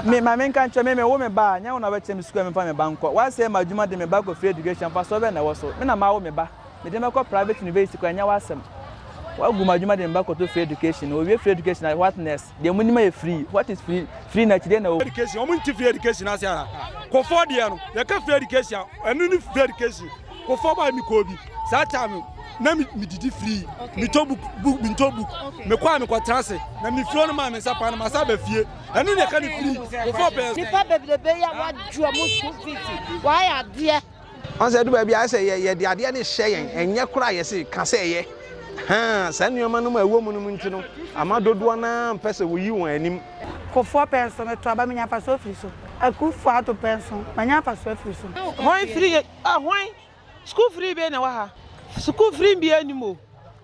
Me ma menka nkyerɛ me mewo me ba a nyɛ wo na wobɛkyerɛ me sukuu a memfa me ba nkɔ woasɛe m'adwuma de me ba kɔ free education mfasoɔ bɛn na ɛwɔ so me na mawo me ba mede no bɛkɔ private university kɔ ɛnyɛ woasɛm woagu m'adwuma de me ba kɔto free education wɔwie free education a what next deɛ mo nim yɛ free what is free free na akyi deɛ na wɔ education wɔn nti free education ase ara kɔfoɔ deɛ no yɛka free education ɛno ne free education Kɔ fam a mekɔɔ bi saa taa no na medidi firii metɔ book book mentɔ book mekɔ a mekɔtena ase na mefiri hɔ no maa me nsa paa no masa aba fie ɛno ne ɛka ne firii kɔ fam pɛɛ nipa bebrebe yɛ wadwoɔ mo school fees wayɛ adeɛ ɔn sɛ ɛdu baabi a sɛ yɛde adeɛ no hyɛ yɛn ɛnyɛ koraa yɛse ka sɛ ɛyɛ haa saa nneɛma no mu a ɛwɔ mu no mu nti no ama dodoɔ no ara mpɛ sɛ wɔyi wɔn anim. Kofoɔ pɛnso metɔ aba menya mfasoɔ firi so. Akufoɔ ato pɛnso manya mfasoɔ firi so. Hwan firi yɛ. Ɛhwan? School free bɛn na ɛwɔ ha? School free biara nnim o.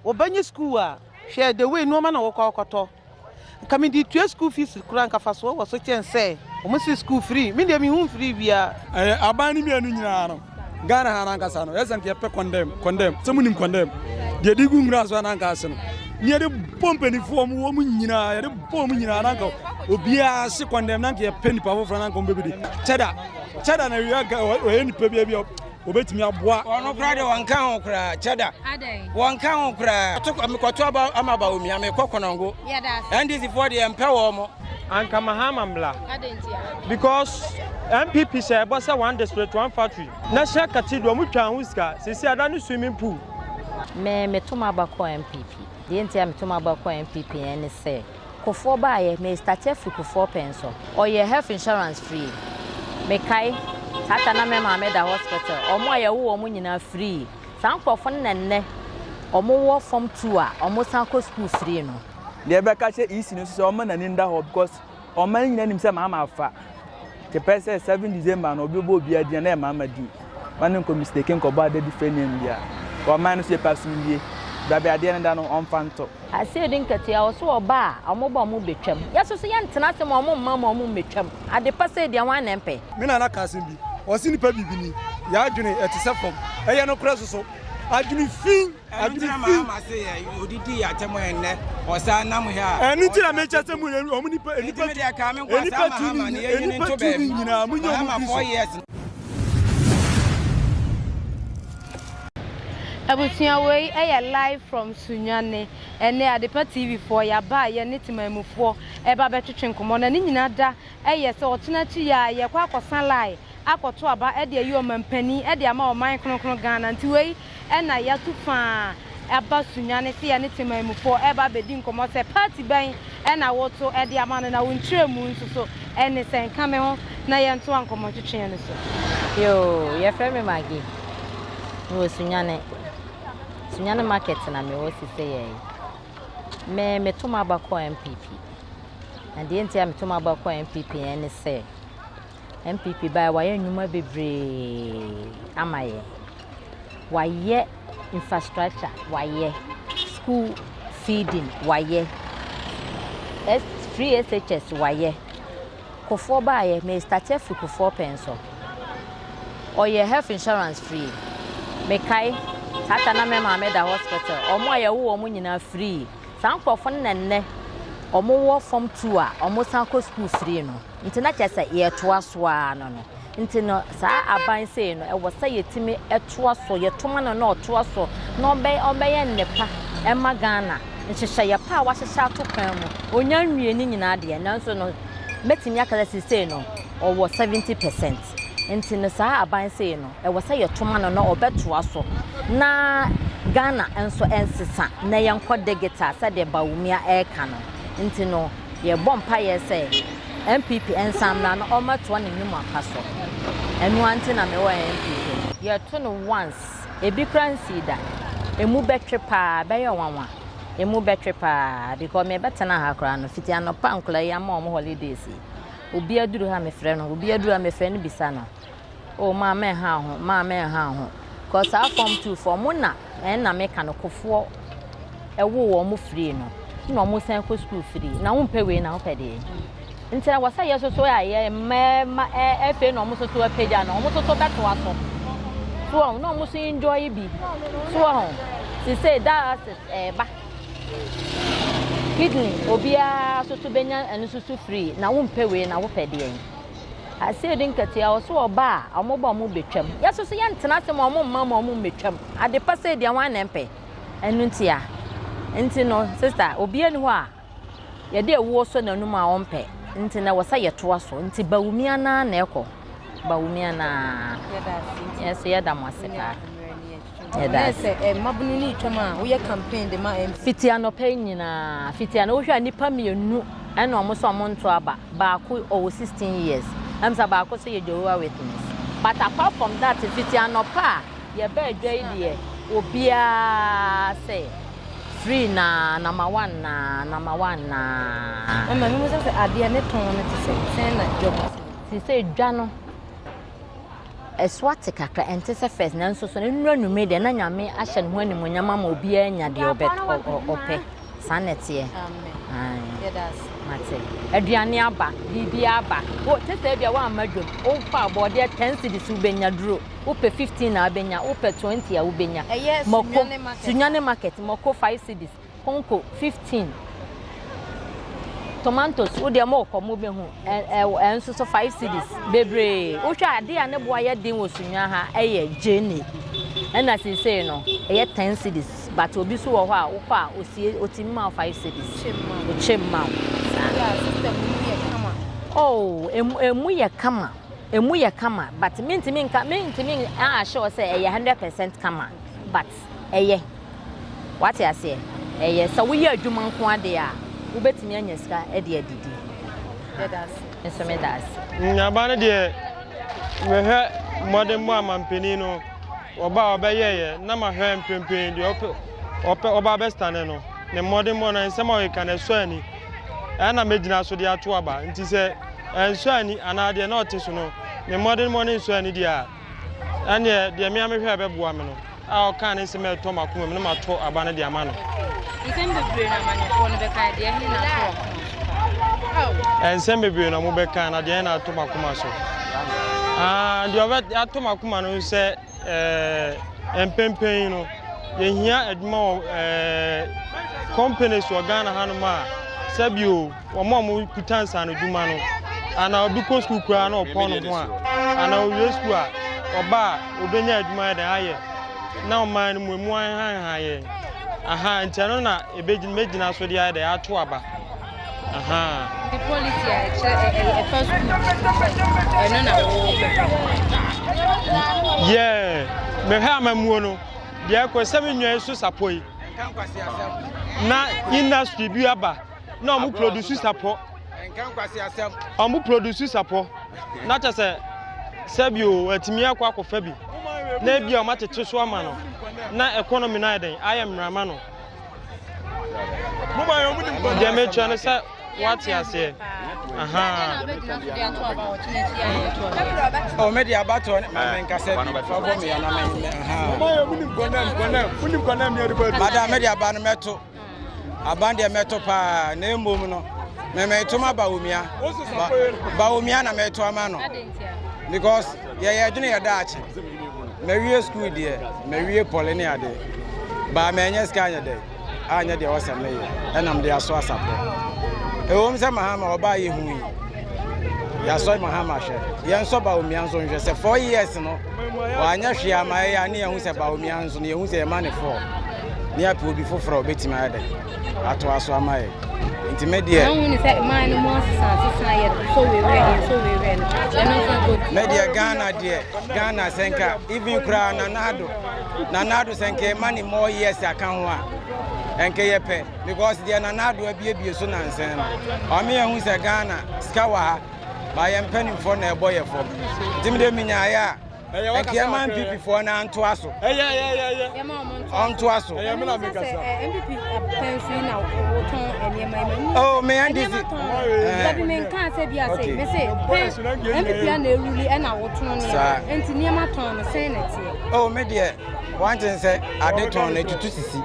Wɔbɛnyɛ school a, hwɛ the way nneɛma na wɔkɔ akɔtɔ. Nka mede tua school fees koraa nka fasoɔ wɔ so kyɛn sɛ wɔn si school free. Me deɛ mehu free biara. Ɛyɛ aban no mmienu nyinaa no. Ghana ha no ankasa no, ɛyɛ sɛ nka yɛpɛ condemn, condemn. Sɛ monim condemn? Deɛ de gu nwura so a na anka ase no. Ne yɛde bɔ mpanimfoɔ mu wɔn nyinaa, yɛde bɔ wɔn nyinaa na anka obiara se condemn na anka yɛpɛ nipa foforɔ na anka wɔn bɛbɛdi. Kyɛ da. Chada na wia ka ɔyɛ nipa bia bia obetumi aboa. Ɔno kura de wɔn ka ho kura Chada. Wɔn ka ho kura. To mekɔto aba ama aba omi ame kɔ kɔnɔngo. NDC foɔ deɛ mpɛ wɔn mo. Anka Mahama mmla. Because MPP hyɛ ɛbɔ sɛ one district one factory. National cathedral ɔmo twaa ho sika. Sisi ada ne swimming pool. Me meto maba kɔ MPP. Deɛ nti a meto maba kɔ MPP ɛne sɛ. Kufoɔ baeɛ me starte afiri Kufoɔ pɛn so. Ɔyɛ health insurance free me kae saa ta na me maame da hospital ɔmo a yɛwo wɔn nyinaa free saa nkorɔfo no na nnɛ ɔmo wɔ form two a ɔmo san kɔ school free no. Deɛ bɛka kyerɛ EC no nso sɛ ɔmma n'ani nda hɔ because ɔman nyinaa nim sɛ maama afa. Kepɛ sɛ seven December no obi bɔ obi adi na ɛma ama di. Ma no nkɔ mistake nkɔbɔ adadi fɛ nneɛm bia. Wɔ ɔman no so yɛpɛ asomdwie. Bra bɛ adeɛ no da no ɔmfa nto. Aseɛ di nketewa wɔ so ɔba a ɔmo ba ɔmo betwam. Yɛ so so yɛ ntena ase ma ɔmo mma ma ɔmo mmɛtwam. Ade pa sei deɛ hwan na ɛmpɛ. Me nana ka asɛm bi ɔse nipa bibini yɛ adwene ɛtesɛ fam ɛyɛ nokorɛ soso adwene fii. Ɛno nti na maa ma se yɛ odidi yɛ atɛm yɛ nnɛ ɔsan nam hɛ a. Ɛno nti na mekyɛ sɛ mo yɛ ɔmo nipa nipa tu nipa tu ni nipa tu ni nyinaa mo nyɛ ɔmo fi so. Abusua wei yɛ live from Sunyani. Ɛnɛ Adepa TV foɔ yɛaba a yɛne temanmufoɔ ɛba bɛtwetwe nkɔmmɔ na ne nyina da yɛ sɛ ɔkyena akyi yi ara yɛkɔ akɔsa line akɔto aba de ayi ɔmanpanin de ama ɔman kronkron Ghana nti wei ɛna yɛatu fa aba Sunyani sɛ yɛne Temanmufoɔ reba abɛdi nkɔmmɔ sɛ party bɛn na woto de ama no na wo nkyerɛmu nso so ne sɛn? Ka me ho na yɛntoa nkɔmmɔ ntwetweɛ no so. Yoo, yɛfrɛ me Maggie, mewɔ Sunyani. Sunyani market na mewɔ siseyɛi. Me, meto m'aba kɔ NPP. Na deɛ nti a meto m'aba kɔ NPP ne sɛ, NPP baeɛ wayɛ nnwuma bebree ama yɛn. Wayɛ infrastructure, wayɛ school feeding, wayɛ free SHS, wayɛ kofoɔ baeɛ me start afiri kofoɔ pɛn so. Ɔyɛ health insurance free. Mekae tata na me maame da hospital. Ɔmo a yɛwo wɔn nyinaa free. Saa nkorɔfo no na nnɛ ɔmo wɔ fɔm tuu a ɔmo san kɔ skuul firii no. Nti na kyerɛ sɛ yɛɛtoa so aa no no. Nti no saa aban sei no ɛwɔ sɛ yɛtumi toa so, yɛto ma no na ɔtoa so na ɔbɛyɛ nnepa ɛma Ghana. Nhyehyɛeɛ pa a w'ahyehyɛ ato kwan mu, ɔnya nwie ne nyinaa deɛ nanso no mɛtumi aka sɛ seisei no ɔwɔ 70 percent. ase. Nti no saa aban sei no ɛwɔ sɛ yɛtoma no na ɔbɛtoa so na Ghana nso nsesa na yɛnkɔ digital sɛdeɛ Bawumia ɛreka no. Nti no yɛbɔ mpaeɛ sɛ NPP nsan mmra na ɔmmɛtoa ne nnwumapa so. Ɛno ara nti na mewɔ NPP no. Yɛto no once, ebi koraa nsii da. Ɛmu bɛtwe paa, ɛbɛyɛ nwanwa. Ɛmu bɛtwe paa because mebɛtena ha koraa no, fiti anɔpa a nkwadaa yi ama wɔn holidays yi. Obi aduru ha mefrɛ no, obi aduru ha mefrɛ no bisa no. Oh maa mɛ ha ho, maa mɛ ha ho. Kɔ saa fam tu fam mo na ɛn na meka no kofoɔ ɛwo wɔn mo free no na wɔn san kɔ sukuu free na wɔn mpɛ wei na wɔn pɛ deɛ. Nti na wɔsɛ yɛ soso a yɛ mmarima ɛfɛ na wɔn soso apagya na wɔn soso bɛtoa so. So wɔn na wɔn so enjoy bi. So wɔn sise daa ɛba. Kidney obiara so so benya ɛno so so free na wo mpɛ wei na wo pɛ deɛ yi. Aseɛ di nkatua wɔ so ɔba a ɔmo ba ɔmo betwam. Yɛ so so yɛ ntena ase ma ɔmo mma ma ɔmo mbetwam. Ade pa sɛ deɛ wɔn anɛ mpɛ. Ɛno ntia. Nti no sista obiara ni hɔ a yɛde ɛwoɔ so n'anum a ɔmpɛ. Nti na wɔ sɛ yɛtoa so. Nti ba wumi anaa na ɛkɔ. Ba wumi anaa. Yɛda ase. Yɛso yɛda mo ase paa. Fiti anɔpa yi nyinaa, fiti anɔpa, wohwɛ a nnipa mmienu na wɔn nso wɔn nto aba. Baako ɔwɔ sixteen years, ɛna sɛ baako nso yɛ Jehovah Witness. But apart from that, fiti anɔpa a yɛbaa adwa yi deɛ, obiara sɛ free naa, number one naa, number one naa. Ɛma mihu sɛ sɛ adeɛ ne tɔn no te sɛ sɛn na dwa mu te. Te sɛ dwa no. Ɛsoa te kakra, ɛnte sɛ fɛs, nanso so nnuru anwummere deɛ na Nyame ahyɛ ne ho animuonyam ama obiara anya deɛ ɔbɛ ɔpɛ. Saa na ɛteɛ. Mate. Aduane aba, biribi aba. Wo tete ebia woamma dwom. Wofa abɔdeɛ 10 cedis wobɛnya duro. Wopɛ 15 a wobɛnya, wopɛ 20 a wobɛnya. Ɛyɛ Sunyane market. Sunyane market, mako 5 cedis. Konko 15 tomatoes wo deɛ mokɔ mobɛhu ɛnso so 5 cities bebree wohwɛ adeɛ a ne boa yɛ den wɔ sunwa ha ɛyɛ gyene ɛna seesei no ɛyɛ 10 cities but obi so wɔ hɔ a wokɔ a osie otimi ma 5 cities ɔkyɛ ma oh emu yɛ kama emu yɛ kama but mentimi nka mentimi ahyɛ sɛ ɛyɛ 100% kama but ɛyɛ. Wate aseɛ? Ɛyɛ. Sɛ woyɛ adwuma nko ara deɛ a, wobɛtumi anya sika de adidi. Me nso meda ase. Nnuaba no deɛ, mehwɛ mmɔdemmɔ a mampanin no, ɔbaa a ɔbɛyɛeɛ, na mahwɛ mprempren deɛ ɔpɛ, ɔpɛ, ɔbaa bɛstane no, ne mmɔdemmɔ no, nsɛm a ɔreka no, ɛsɔ ani. Ɛyɛ na mɛgyina so de ato aba. Nti sɛ ɛnsɔ ani anaa deɛ na ɔte so no, ne mmɔdemmɔ no nsɔ ani deɛ a, ɛnneɛ deɛ me a mehwɛ a ɛbɛboa me no a ɔkaa ne nsɛm a ɛtɔ m'akoma mu na matɔ aba no de ama no. Nsɛm bebree na amanneɛfoɔ no bɛka, deɛ ɛhe na atɔ w'akoma so? Nsɛm bebree na wɔbɛka na deɛ ɛhe na atɔ m'akoma so? Ah, deɛ ɔbɛ atɔ m'akoma no sɛ ɛɛ mpempem yi no yɛhia adwuma wɔ ɛɛ companies wɔ Ghana hanom a sɛbio wɔn a wɔkuta nsaanodwuma no anaa obi kɔ sukuu koraa na ɔpɔn ne ho a anaa owie sukuu a ɔba a obenya adwuma yɛ dɛn ayɛ na ɔman no mu emu ahanhan yɛ aha nti ɛno na ebegyina megyina so de ayɛ dɛn ato aba aha. de polisi a ɛkyerɛ ɛfa sukuu ɛno na wɔbɛpɛ. yɛɛ mehwɛ amamuo no deɛ ɛkɔ sɛ me nwa so sapɔ yi na industry bi aba. na ɔmo produce sapɔ ɔmo produce sapɔ na kyɛ sɛ sɛbi o atumi akɔ akɔfa bi na ebi a ɔmo atete so ama no na economy no ayɛ dɛn ayɛ mmerama no deɛ mekyerɛ no sɛ wate aseɛ mede abatoɔ ne mamenkasɛ fabɔ meana mada mede aba no mɛto Aban deɛ mɛto paa na mmom no mɛmɛto ma Bawumia Bawumia na mɛto ama no because yɛyɛ adwene yɛ daakye mɛwie sukuu deɛ mɛwie pɔle ne adeɛ baa mɛnyɛ sika anyɛ dɛ anyɛ deɛ wɔsɛ mɛyɛ ɛnam de aso asapɔ ɛwom sɛ mahama ɔbaa yɛ hu yi yɛasɔ mahama hwɛ yɛnsɔ Bawumia nso nhwɛ sɛ four years no wɔanyɛ hwee ama ɛyɛ a ne yɛhu sɛ Bawumia nso no yɛhu sɛ yɛma ne four ne yɛapɛ obi foforɔ a ɔbɛtumi ayɛ dɛ atoa so ama yɛ nti me deɛ me deɛ ghana deɛ ghana sɛ nka even koraa nanado nanado sɛ nka ɛma ne more years aka ho a ɛnka yɛpɛ because deɛ nanado abiebie so nansɛn no ɔme yɛhu sɛ ghana sika wɔ ha ba yɛmpɛ ne mfoɔ na ɛbɔ yɛ fam nti me deɛ menyaeɛ a nka yɛma npp foɔ no antoa so ɔntoa so oh me ndc dabi me nka sɛ bi ase me se npp a na ɛruli ɛna wotɔn nneɛma nti nneɛma tɔn no sɛn na ɛteɛ oh me deɛ wanten sɛ ade tɔn no ɛtutu sisi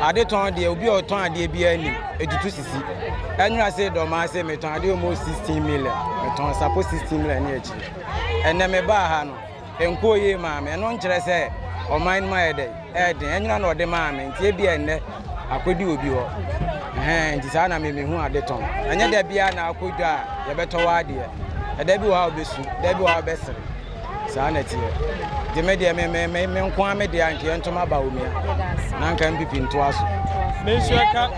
ade tɔn deɛ obi a ɔtɔn adeɛ biara nim ɛtutu sisi ɛnwera sɛ dɔmaa sɛ metɔn adeɛ ɔmɔ 16 million metɔn sapo 16 million ne akyiri Ɛnnɛ mebaa ha no, ɛnkɔɔ yie maa me. Ɛno nkyerɛ sɛ ɔman no mu ayɛ dɛn? Ɛyɛ den. Anyina na ɔde maa me, nti ebia ɛnnɛ akɔdi obi hɔ. Ɛhɛn, nti saa na me mehu ade tɔn. Ɛnyɛ da biara na akɔ dwa a yɛbɛtɔ wo adeɛ. Ɛda bi wɔ hɔ a wobɛsu, da bi wɔ hɔ a wobɛsere. Saa na ɛteɛ. Nti me deɛ, me, me, me, me nko ara me deɛ a, nka yɛnto m'aba Omia, na nka MPP ntoa so. Me nso ɛka.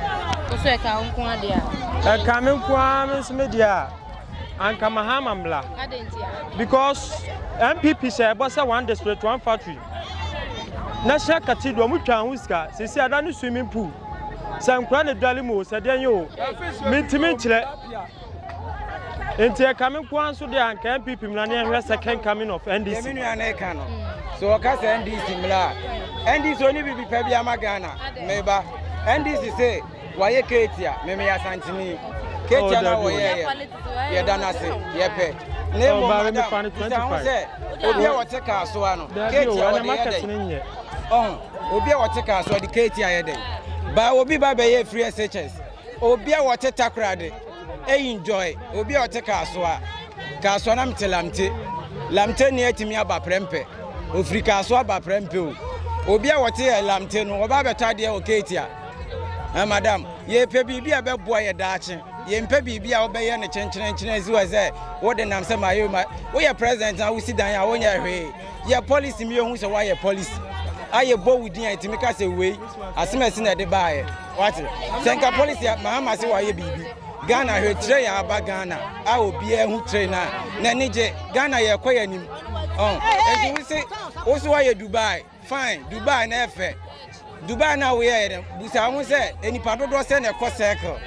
Wo nso ɛka wo nko ara deɛ a? Ɛka me nko ara me nso me deɛ a. Anka Mahama mmra. Because NPP hyɛ ɛbɔ sɛ one district one factory. National Cathedral mu twa ho sika. Sisi ada ne swimming pool. Sɛ nkura ne dwale mu o, sɛ deɛ nye o. Mintimi nkyerɛ. Nti ɛka me nko nso deɛ anka NPP mmra ne ɛhwɛ second coming of NDC. Ɛmi nua na ɛka no. So ɔka sɛ NDC mmra. NDC oni bibi pɛ bi ama Ghana. Meba. NDC say Wayɛ Katie a, me meyɛ Asanteni. Katie no a wɔyɛeɛ no, yɛda no ase, yɛpɛ. Na mmom, madam, bisa ho sɛ, obi a ɔte kaa so ha no, Katie a ɔde yɛ dɛn? Ɔho, obi a ɔte kaa so, ɔde Katie ayɛ dɛn? Ba, obi ba bɛyɛ afiri SHS. Obi a ɔte Takoradi, ɛyi enjoy. Obi a ɔte kaa so a, kaa so na mete Lamte. Lamteni atumi aba prɛmpɛ. Ofiri kaa so aba prɛmpɛ o. Obi a ɔte Lamte no, ɔba abɛtɔ adeɛ wɔ Katie a, Eh, madam, yɛpɛ biribi a ɛbɛboa yɛ daakye. Yɛmpɛ biribi a wobɛyɛ no kyenkyerenkyene asi wɔ sɛ wode nam sɛ mayɛ ma woyɛ president na wosi dan a wonyɛ hwee. Yɛ policy mi yɛhu sɛ woayɛ policy. Ayɛ bɔ wo din a ɛtumi ka sɛ wei asɛm asi na ɛde baeɛ. Wate? Sɛ nka policy a Mahama se wayɛ biribi. Ghana hwɛ train a aba Ghana a obiara hu train a n'ani gye. Ghana yɛkɔ yɛ anim. Ɛnti oh, wo se wo so woayɛ Dubai. Fine, Dubai na ɛfɛ. Dubai na woyɛ yɛ dɛ. Busa ho sɛ, nnipa dodoɔ sɛ na ɛkɔ circle.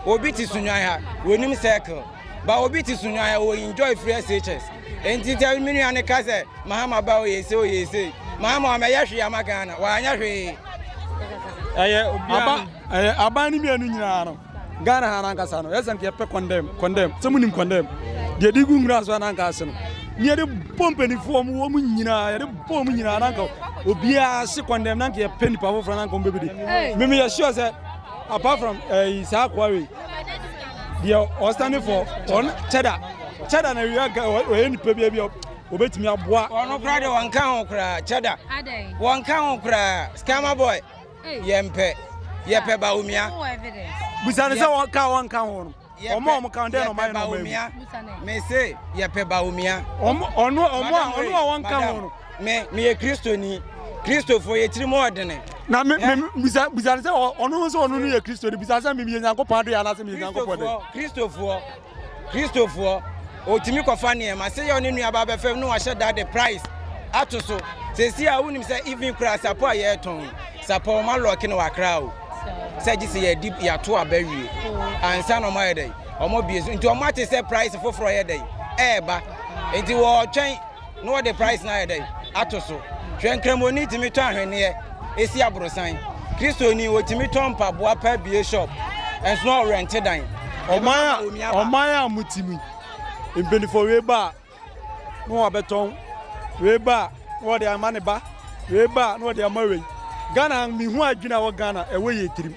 Obi te sunwan ha, wɔnim circle. Ba obi te sunwan ha, wɔ enjoy free SHS. Enti sɛ me nua no ka sɛ, Mahama ba oyɛ se oyɛ se. Mahama ɔmɛyɛ hwee ama Ghana, wanyɛ hwee. Ɛyɛ aban no mmienu nyinaa no. Ghana ha nankasa no yɛsɛ nka yɛpɛ condemn condemn sɛ munim condemn deɛ de gu nwura so ananka ase no ne yɛde bɔ mpanimfoɔ mu wɔn nyinaa yɛde bɔ wɔn nyinaa nanka obiara se condemn nanka yɛpɛ nipa foforɔ nanka wɔn bɛbi de mimi yɛ sure sɛ apart from ɛyi eh, saa akoa wei deɛ ɔstande for ɔn kyɛda kyɛda na wia ɔyɛ nipa bi bi obetumi aboa ɔno koraa deɛ wɔnka ho koraa kyɛda wɔnka ho koraa scammer boy Yɛmpɛ. Yɛpɛ Bawumia. Busa no sɛ wɔn ka wɔn nka ho no. Wɔn a wɔn ka ho dɛ na wɔn ayɛ na wɔn ayi. Me se yɛpɛ Bawumia. Ɔno ɔno a ɔno a wɔn ka ho no. Me me yɛ kristoni. Kristofo yɛ tirim ɔdene. Na me me busa busa no sɛ ɔno nso ɔno no yɛ kristoni busa sɛ me yɛ Nyankopɔn adeɛ anaasɛ me yɛ Nyankopɔn dɛ. Kristofo Kristofo. Kristofoɔ, ɔtumi kɔfa nneɛma. Sɛ yɛ ɔne nuaba abɛfam na wahyɛ da de price ato so. Sɛsi a wonim sɛ even kura sapɔ a yɛretɔn sapɔ ɔma lɔɔke na wakra o. Sɛ gye sɛ yɛdi yɛato aba wie. Ansa na ɔmo ayɛ dɛn? Ɔmo bie so. Nti ɔmo ate sɛ price foforɔ yɛ dɛn? Ɛɛba. Nti wɔɔtwɛn. na wɔde price no ayɛ dɛn ato so hwɛ nkramoni tumi tɔ ahwenneɛ ɛsi aborosan kristoni wɔtumi tɔ mpaboa pa bie shop ɛnso na ɔrɛnte dan ɔman a motimi mpanimfoɔ wei ba a na wɔabɛtɔn wei ba a na wɔde ama ne ba wei ba a na wɔde ama wei ghana mehu adwene a wɔ ghana ɛwɔ yɛ tirim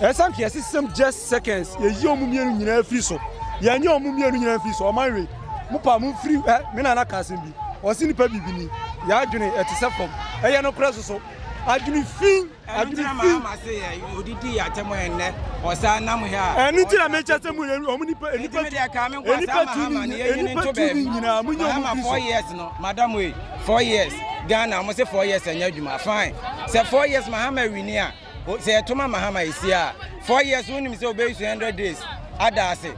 Ɛsan kɛ yɛse sɛm just seconds yɛyi ɔmo mmienu nyinaa firi so yɛnyɛ ɔmo mmienu nyinaa firi so ɔman wei mo pa mo mfiri ɛ me nana ka asɛm bi ɔse nipa bibini yɛ adwene ɛte sɛ fam ɛyɛ no korɛ soso adwene fi adwene fi ma se yɛ odidi yɛ atɛm ɛnɛ ɔsan nam hɛ a ɛno ti na mekyɛ sɛ mo yɛ ɔmo nipa e nipa ti e nipa ti ni e nipa ti ni nyinaa mo nyɛ ɔmo firi so four years no madam wei four years Ghana ɔmo se four years ɛnyɛ adwuma fine sɛ four years mahama wini a Sɛ yɛto ma Mahama esie a, four years wonim sɛ obeyi so hundred days ada ase.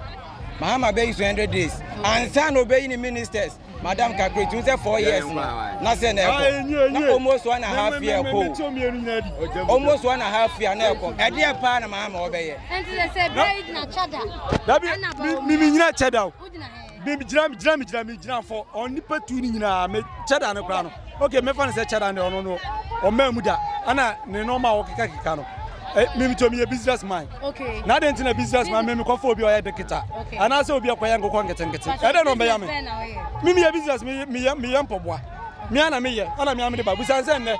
Mahama bɛyi so hundred days ansa na obeyi ne ministers. Madam kakra tun sɛ four years no na sɛ na ɛkɔ na almost one and a half year kɔ almost one and a half year na ɛkɔ ɛdeɛ paa na Mahama ɔbɛyɛ. Ɛnti sɛ sɛ bɛyi gyina kyada. Dabi mimi nyina kyada o. Me gyina me gyina me gyina me gyina for ɔn nipa tu ne nyinaa me kyɛda no koraa no okay mɛfa no sɛ kyɛda no ɔno no ɔmaa mu da ana ne nɔɔma a wɔkeka keka no eh, me me tɔmi yɛ business man okay na de ntina business man me me kɔfo obi ɔyɛ dekita okay ana sɛ obi akɔyɛ nkokɔ nkete nkete ɛdɛ no ɔbɛya me me me yɛ business me me yɛ me yɛ mpɔboa me ana me yɛ ana me amede ba busan sɛ nnɛ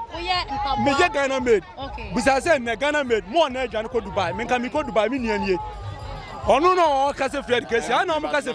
me yɛ Ghana made okay busan sɛ nnɛ Ghana made mo ɔna adwane kɔ Dubai me nka me kɔ Dubai me nua nie Ɔno na ɔka sɛ free education ana ɔmo ka sɛ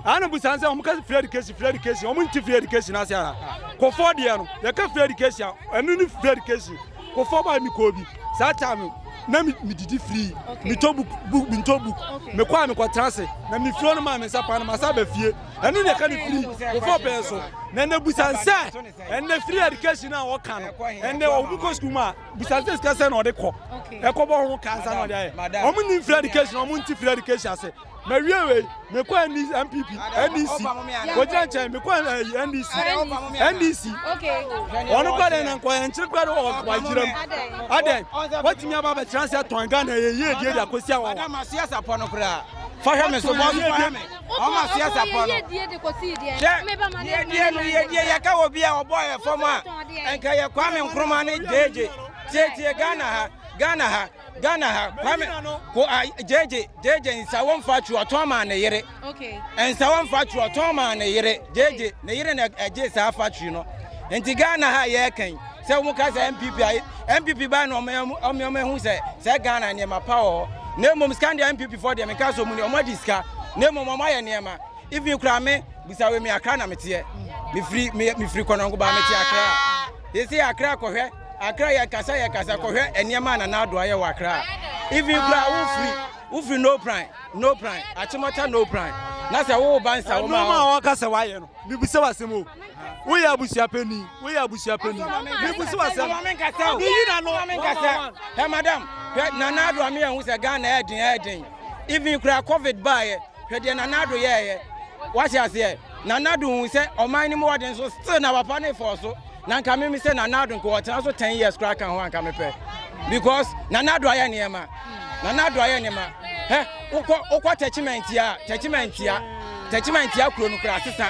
ana busa sɛ ɔmo ka sɛ free education free education ɔmo nti free education ase ana kɔfɔ deɛ no yɛka free education ɛno ne free education kɔfɔ baa mi kɔɔ bi saa taa mi na mi mi didi free mi tɔ book book mi tɔ book mi kɔ a mi kɔ tena ase na mi furo no maa mi nsa paa no ma sa bɛ fie ɛno na yɛka ne free kɔfɔ pɛɛ so na ɛnɛ busa sɛ ɛnɛ free education a wɔka no ɛnɛ ɔmo kɔ sukuu mu a. busa sɛ sika sɛ na ɔde kɔ ɛkɔbɔ ho ka nsa na ɔde ayɛ wɔn nim free education wɔn nti free education ase mɛ wie wei mɛ kɔ npp ndc wɔgyina nkyɛn mɛ kɔ ndc ndc wɔn kɔ dɛ na nkɔyɛ nkyɛn kɔ dɛ wɔ wagyina mu adɛ wɔtumi aba abɛkyerɛ sɛ tɔn ghana yɛ yie die de akɔsi awɔ wa fahwɛ mi so bɔ so fahwɛ mi. Ɔma so yɛ sapɔ no. Hwɛ, yiedie no, yiedie yɛka wɔ bi a ɔbɔ yɛ fam a, nka yɛ Kwame Nkrumah ne gyegye. Tietie Ghana ha, Ghana ha, Ghana ha, Kwame ko a gyegye, gyegye nsa wɔn fa twerɛ ɔtɔn maa ne yere. Nsa wɔn fa twerɛ ɔtɔn maa ne yere, gyegye ne yere na ɛgye saa fa twerɛ no. Nti Ghana ha yɛ kan. Sɛ wɔn ka sɛ NPP a, NPP baa na wɔn wɔn ehu sɛ sɛ Ghana nneɛma pa wɔ hɔ. Na mmom sika deɛ NPP fɔ deɛ me nka so mu deɛ wɔn adi sika. Na mmom wɔn ayɛ nneɛma. Even kura me bisa wɔ mi akra na me teɛ. Me firi me me firi kɔnɔngo ba me te akra. Yɛsi akra kɔhwɛ akra yɛ kasa yɛ kasa kɔhwɛ nneɛma na n'ado ayɛ wɔ akra. Even kura wo firi wo firi no plan no plan akyemɔta no plan. Na sɛ wo ba nsa wɔn a wɔn. Nneɛma a wɔn kasa wɔayɛ no. Me bisa wɔ asɛm o. woyɛ abusua panyin woyɛ abusua panyin mebusu asɛm meyi na no menkasa hɛ madam hwɛ nana ado ame yɛn ho sɛ ghana ɛyɛ den ɛyɛ den even kura covid baayɛ hwɛ deɛ nana ado yɛɛyɛ wate aseɛ nana ado hu sɛ ɔman no mu wɔde nso still na papa ne fɔɔ so na nka meme sɛ nana ado nka wɔtena so 10 years kora ka ho anka mepɛ because nana ado ayɛ nneɛma nana ado ayɛ nneɛma hɛ wokɔ wokɔ tɛkyimantia tɛkyimantia tɛkyimantia kuro no kura asesa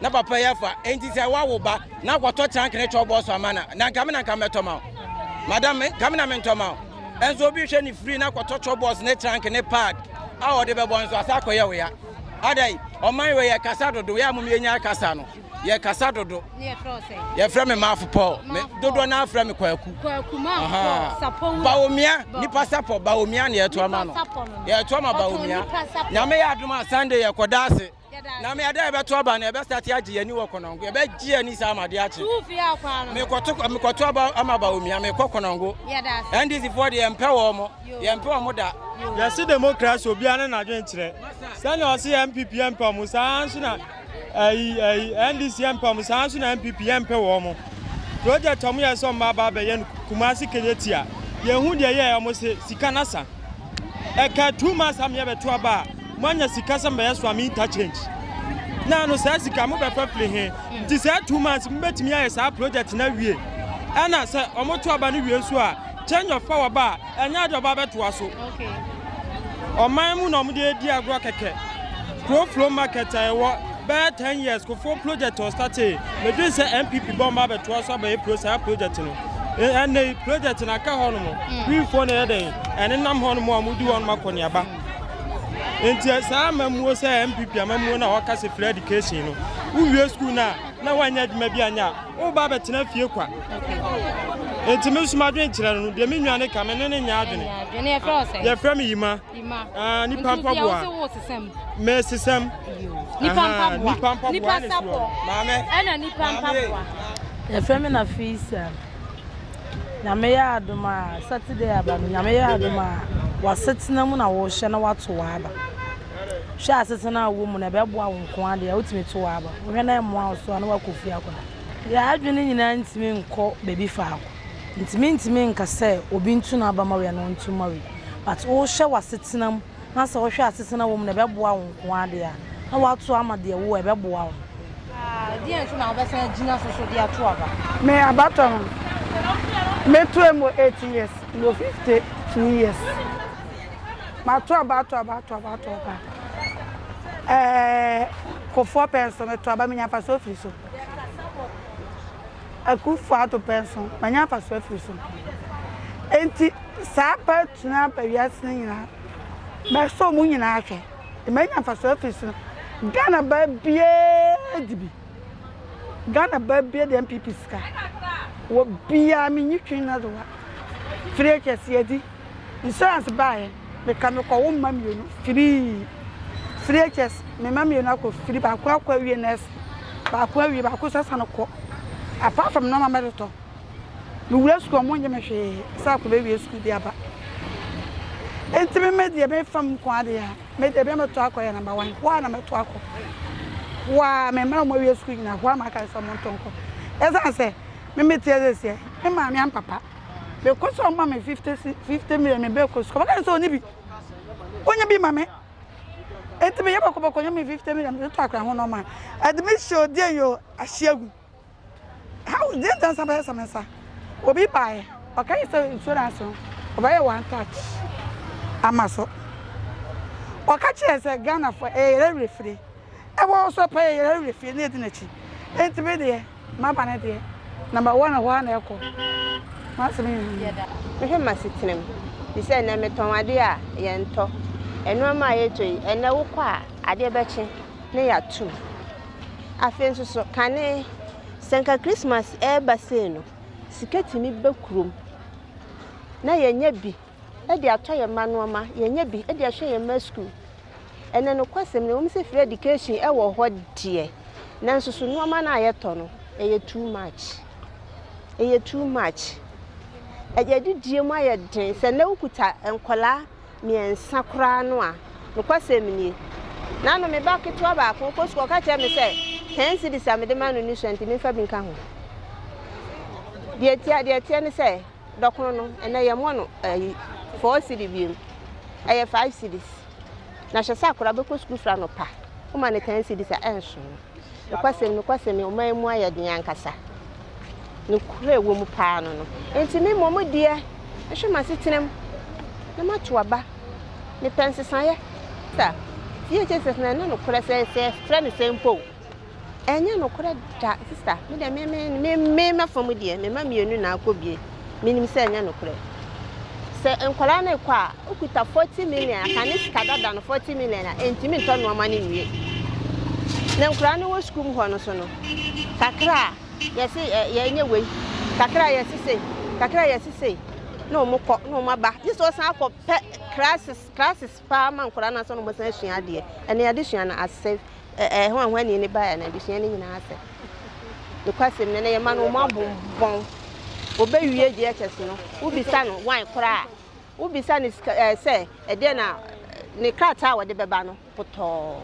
Na papa yi afa enti sɛ wawo ba na akɔtɔ trunk ne chop box ama na na nka me na nka mɛtɔ ma wo madam me nka me na mentɔ ma wo ɛnso obi hwɛ ne firi na akɔtɔ chop box ne trunk ne pad a ɔde bɛbɔ nso asa akɔyɛ wo ya adai ɔman wɔ yɛ kasa dodo yɛ amom yɛnya kasa no yɛ kasa dodo yɛfrɛ me maafo pɔl me dodoɔ no afrɛ me kwaku baomia nipa sapɔ baomia ne yɛtoa ma no yɛtoa ma baomia nyame yɛ adom a sunday yɛkɔda ase na me ada ɛbɛto aba no ɛbɛsate agye yɛn ani wɔ kɔnɔngo ɛbɛgye yɛn ani saa ama adeɛ akye mekɔto aba ama ba omia mekɔ kɔnɔngo ndc foɔ deɛ yɛmpɛ wɔ mo yɛmpɛ wɔ mo da yɛse demokrasi obiara ne n'adwen kyerɛ sɛnea ɔse yɛ mpp yɛmpɛ mo saa nso na ayi ayi ndc yɛmpɛ mo saa nso na mpp yɛmpɛ wɔ mo project ɔmo yɛ sɛ ɔmo aba abɛyɛ no kumase kɛnyɛ tia yɛhu deɛ yɛ ɔmo se sika nasa ɛka two months a meyɛ bɛto aba a moanya sika sɛ mbɛyɛ so a me interchange na ano saa sika mobɛfa firi he nti saa two months mobɛtumi ayɛ saa project na wie ɛna sɛ ɔmo to aba no wie nso a change of power ba a ɛnyɛ ade ɔba bɛtoa so ɔman mu na ɔmo de adi agorɔ kɛkɛ kuro flow market a ɛwɔ Bɛyɛ ten years kofoɔ project ɔstatee medwen sɛ NPP bɔ mba bɛtoa so abɛyɛ pro saa project no ɛnɛ yi project no aka hɔ nom wifoɔ na ɛyɛ dɛn ɛnenam hɔ nom a mudi hɔ nom akɔneaba nti saa amamuo sɛ NPP amamuo no a wɔka sɛ free education no wowie school no a na woanyɛ adwuma bi anyɛ a woba bɛtena fie kwa nti me nso madwen kyerɛ no deɛ me nwa ne ka me ne ne nyɛ adwene yɛfrɛ me yima Ah, nipa mpaboa. Mesesam. Nipa mpaboa. Nipa mpaboa. Nipa sapɔ. Maame. Ɛna nipa mpaboa. Yɛfrɛ me na Fisa. Nyame yɛ adom a Saturday aba no Nyame yɛ adom a w'asetena mu na wohyɛ na wato w'aba. Hwɛ asetena a wɔ mu na ɛbɛboa wo nko adeɛ a wotumi to w'aba. Wohwɛ na ɛmmoa wo so a na wakɔ fie akɔda. Yɛn adwene nyinaa ntumi nkɔ baabi faako. Ntsi menntumi nnka sɛ obi ntu n'aba Maui anaa onntu Maui. But wohwɛ w'asetsena mu na sɛ wohwɛ asetsena wɔ mu na ɛbɛboa wo nkoaa de a, na woato ama deɛ wo a ɛbɛboa wo. Ah, deɛn nso na wobɛsan agyina so so de ato aba? Me abatɔ no, metoa mu wɔ eighteen years, mewɔ fifty two years. Mato aba ato aba ato aba ato aba. Ɛɛ, Kofoɔ pɛɛ nso, meto aba, menya mfasoɔ firi so. Akufo Addo pɛ nso, manya mfaso afi so. Enti saa pɛ tumi aba wiase no nyinaa. Mɛsɔ wɔn nyinaa ahwɛ, na manya mfaso afi so. Ghana ba biara di bi. Ghana ba biara di NPP sika. Wɔ biara, menyi twi nnadewa. Firi akɛseɛ di. Insurance baeɛ, meka mekɔwo mma mmienu firii CHS, me mma mmienu akɔ firi, baako akɔ awie nurse, baako awie, baako nso asane kɔ. Apart from nneɛma mɛdotɔ, mewura sukuu ɔmo nye me hwee sɛ akɔ bɛwie sukuu de aba. Nti me me deɛ mefa mu nko adeɛ a, me deɛ bia mɛto akɔ yɛ number one, hɔ a na mɛto akɔ. Hɔ a me mma ɔmo awie sukuu nyina, hɔ a maka sɛ ɔmo nto nkɔ. Ɛsiane sɛ, me me teɛ sɛ seɛ, me maame ampapa. mekɔ sɛ ɔma me fifty fifty million me bɛkɔ sukuu ɔbɛka sɛ ɔne bi wonye bi ma me eti meyɛ bɔkɔbɔkɔ nye me fifty million de to akora ho nɔɔma admission odiɛ yi o ahye agu how deɛ nta nsa bɛyɛ sɛ me nsa obi baeɛ ɔka yi sɛ insurance no ɔbɛyɛ one touch ama so ɔka kyerɛ sɛ ghana fo ɛyɛ refiri ɛwɔ hɔ sɛ ɔpɛ yɛ yɛn awie fie na edi n'akyi enti me deɛ maba ne deɛ namba wɔn na hɔ ara na ɛkɔ m'asɛm yɛ ha. Mehwɛ m'asetenam te sɛ ɛnɛ metɔn adeɛ a yɛntɔ nneɛma a yɛtɔ yi ɛnɛ wokɔ a adeɛ bɛkye na yɛato mu afei nso so kane sɛ nka Christmas ɛreba sei no sika tumi ba kurom na yɛnya bi de atɔ yɛn mma nnoɔma, yɛanya bi de ahyɛ yɛn mma sukuu. Ɛnna nokwasɛm no, ɛwom sɛ free education wɔ hɔ deɛ, nanso so nnoɔma no a yɛtɔ no, ɛyɛ too much. Ɛyɛ too much. Ɛyɛ didie mu ayɛ den. Sɛ nnɛ wokuta nkwadaa mmiɛnsa koraa no a, nokwasɛm nie. N'ano me ba ketewa baako ɔkɔ sukuu ɔka kyerɛ me sɛ ten cedis a mede ma no ne sua nti memfa bi nka ho. Deɛ ɛteɛ deɛ ɛteɛ ne sɛ Dɔkono no, ɛnnɛ yɛmmɔ no ayi four cedi bio, ɛyɛ five cedis. Na hwɛ sɛ akwadaa bɛkɔ sukuu firi anɔpa, woma no ten cedis a ɛnso. Nokwasɛm nokwasɛm, ɔman yi mu ayɛ den ankasa. Nokorɛ ɛwɔ mu paa no no. Enti me mmɔ mo deɛ, nhwɛ m'asetenam na mato aba. Mepɛ nsesaeɛ. Sa, DHSS no ɛnyɛ nokorɛ sɛ sɛ yɛfrɛ no sɛn mpo o. Ɛnyɛ nokorɛ da sister me deɛ me me me me mɛfa mu deɛ me mma mmienu na akɔ bie menim sɛ ɛnyɛ nokorɛ sɛ nkwadaa no rekɔ a okuta forty million aka ne sika dada no forty million a ɛntumi ntɔ nneɛma no nwie na nkwadaa no wɔ sukuu mu hɔ no so no kakra a yɛse yɛnyɛ wei kakra a yɛse sei kakra a yɛse sei na wɔn kɔ na wɔn aba gye sɛ ɔsan akɔ pɛ classes classes paa ma nkwadaa no ansa na wɔsan asua adeɛ ɛne adesua no asɛ ɛɛ ho a ho ani ne baeɛ na adesua no nyinaa asɛ nokwasɛm no na yɛma no wɔn abonbɔn wɔbɛwie GHS no wobisa no wan koraa wobisa no ɛɛ sɛ ɛdeɛ na ne krataa a wɔde bɛba no potɔɔ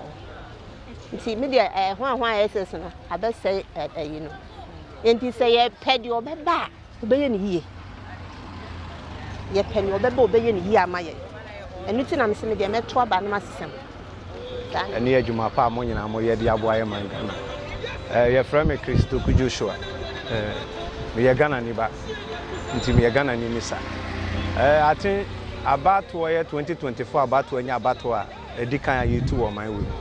nti me deɛ ɛɛ ho a ho a SS no abɛsɛe ɛyi no nti sɛ yɛpɛ deɛ ɔbɛba a Wobɛyɛ no yie. Yɛpɛ nea ɔbɛba a ɔbɛyɛ no yie ama yɛn. Ɛno nti na mese me deɛ mɛto aba no masesa mu. Saa na. Ɛne adwuma pa a mo nyinaa moyɛ de aboa yɛn man Ghana. Eh, Yɛfrɛ me Chris Doku Joshua. Eh, Meyɛ Ghanani ba, nti meyɛ Ghanani ni sa. Eh, Aten abatoɔ yɛ 2024 abatoɔ nyɛ abatoɔ a. edi kan a yetu wɔ ɔman wei mu.